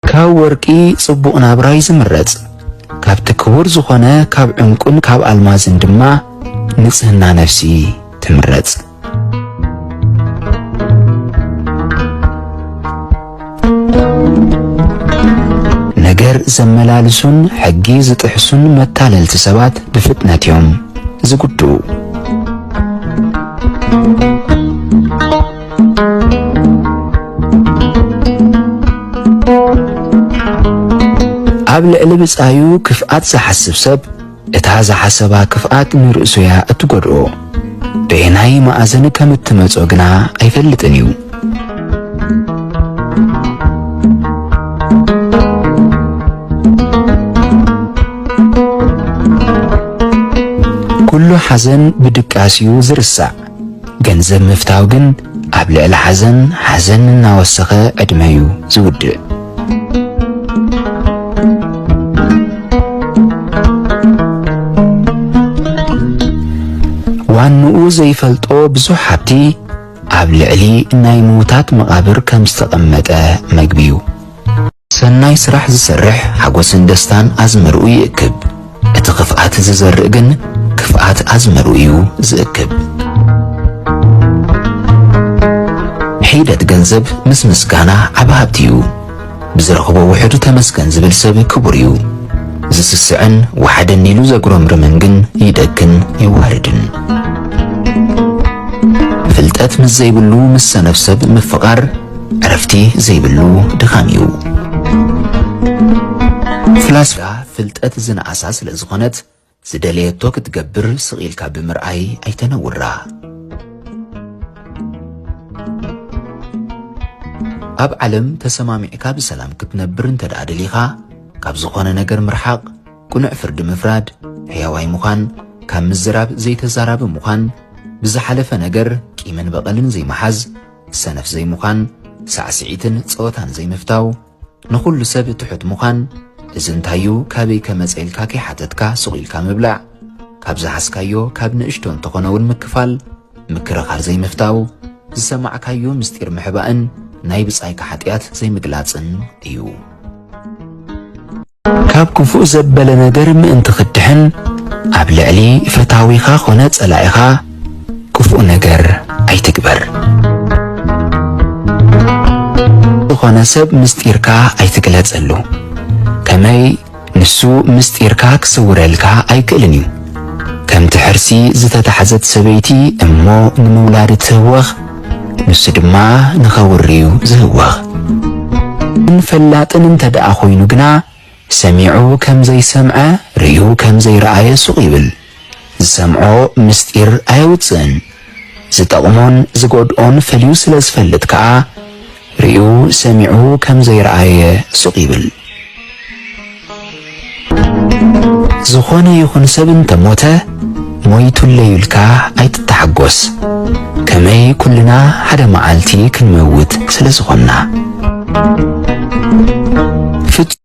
ካብ ወርቂ ጽቡቕ ናብራ'ዩ ዝምረጽ፣ ካብቲ ክቡር ዝኾነ ካብ ዕንቊን ካብ ኣልማዝን ድማ ንጽህና ነፍሲ ትምረጽ። ነገር ዘመላልሱን ሕጊ ዝጥሕሱን መታለልቲ ሰባት ብፍጥነት'ዮም ዝጉድኡ። ኣብ ልዕሊ ብጻዩ ክፍኣት ዝሓስብ ሰብ እታ ዝሓሰባ ክፍኣት ንርእሱ እያ እትጎድኦ በየናይ መኣዝን ከም እትመጾ ግና ኣይፈልጥን እዩ ኩሉ ሓዘን ብድቃስ እዩ ዝርሳዕ ገንዘብ ምፍታው ግን ኣብ ልዕሊ ሓዘን ሓዘን እናወሰኸ ዕድመ'ዩ ዝውድእ። ዋንኡ ዘይፈልጦ ብዙሕ ሃብቲ ኣብ ልዕሊ ናይ ምዉታት መቓብር ከም ዝተቐመጠ መግቢ'ዩ። ሰናይ ስራሕ ዝሰርሕ ሓጎስን ደስታን ኣዝመርኡ ይእክብ፣ እቲ ኽፍኣት ዝዘርእ ግን ክፍኣት ኣዝመርኡ እዩ ዝእክብ። ሒደት ገንዘብ ምስ ምስጋና ዓቢ ሃብቲ እዩ፣ ብዝረኽቦ ውሑድ ተመስገን ዝብል ሰብ ክቡር እዩ። ዝስስዕን ወሓደኒ ኢሉ ዘጉረምርምን ግን ይደክን ይዋረድን። ፍልጠት ምስ ዘይብሉ ምስ ሰነፍ ሰብ ምፍቓር፣ ዕረፍቲ ዘይብሉ ድኻም እዩ። ፍላስፋ ፍልጠት ዝነኣሳ ስለ ዝኾነት ዝደለየቶ ክትገብር ስቕ ኢልካ ብምርኣይ ኣይተነውራ። ኣብ ዓለም ተሰማሚዕካ ብሰላም ክትነብር እንተ ደኣ ደሊኻ ካብ ዝኾነ ነገር ምርሓቕ፣ ቅኑዕ ፍርዲ ምፍራድ፣ ሕያዋይ ምዃን፣ ካብ ምዝራብ ዘይተዛራቢ ምዃን፣ ብዝሓለፈ ነገር ቂምን በቐልን ዘይምሓዝ፣ ሰነፍ ዘይምዃን፣ ሳዕስዒትን ጸወታን ዘይምፍታው፣ ንኹሉ ሰብ ትሑት ምዃን፣ እዚ እንታይ እዩ ካበይ ከመጸ ኢልካ ከይሓተትካ ሱቕ ኢልካ ምብላዕ፣ ካብ ዝሃስካዮ ካብ ንእሽቶ እንተኾነ እውን ምክፋል፣ ምክርኻር ዘይምፍታው፣ ዝሰማዕካዮ ምስጢር ምሕባእን ናይ ብጻይካ ሓጥያት ዘይምግላጽን እዩ። ካብ ክፉእ ዘበለ ነገር ምእንቲ ክትድሕን፣ ኣብ ልዕሊ ፈታዊኻ ዀነ ጸላኢኻ ክፉእ ነገር ኣይትግበር። ንዝዀነ ሰብ ምስጢርካ ኣይትግለጸሉ፣ ከመይ ንሱ ምስጢርካ ክስውረልካ ኣይክእልን እዩ። ከምቲ ሕርሲ ዝተታሕዘት ሰበይቲ እሞ ንምውላድ እትህወኽ፣ ንሱ ድማ ንኸውርዩ ዝህወኽ። እንፈላጥን እንተደኣ ኮይኑ ግና ሰሚዑ ከም ዘይሰምዐ ርእዩ ከም ዘይረኣየ ሱቕ ይብል። ዝሰምዖ ምስጢር ኣየውጽእን። ዝጠቕሞን ዝጎድኦን ፈልዩ ስለ ዝፈልጥ ከኣ፣ ሪኡ ሰሚዑ ከም ዘይረኣየ ሱቕ ይብል። ዝኾነ ይኹን ሰብ እንተ ሞተ ሞይቱለይ ኢልካ ኣይትተሓጎስ ከመይ ኩልና ሓደ መዓልቲ ክንመውት ስለ ዝኾንና።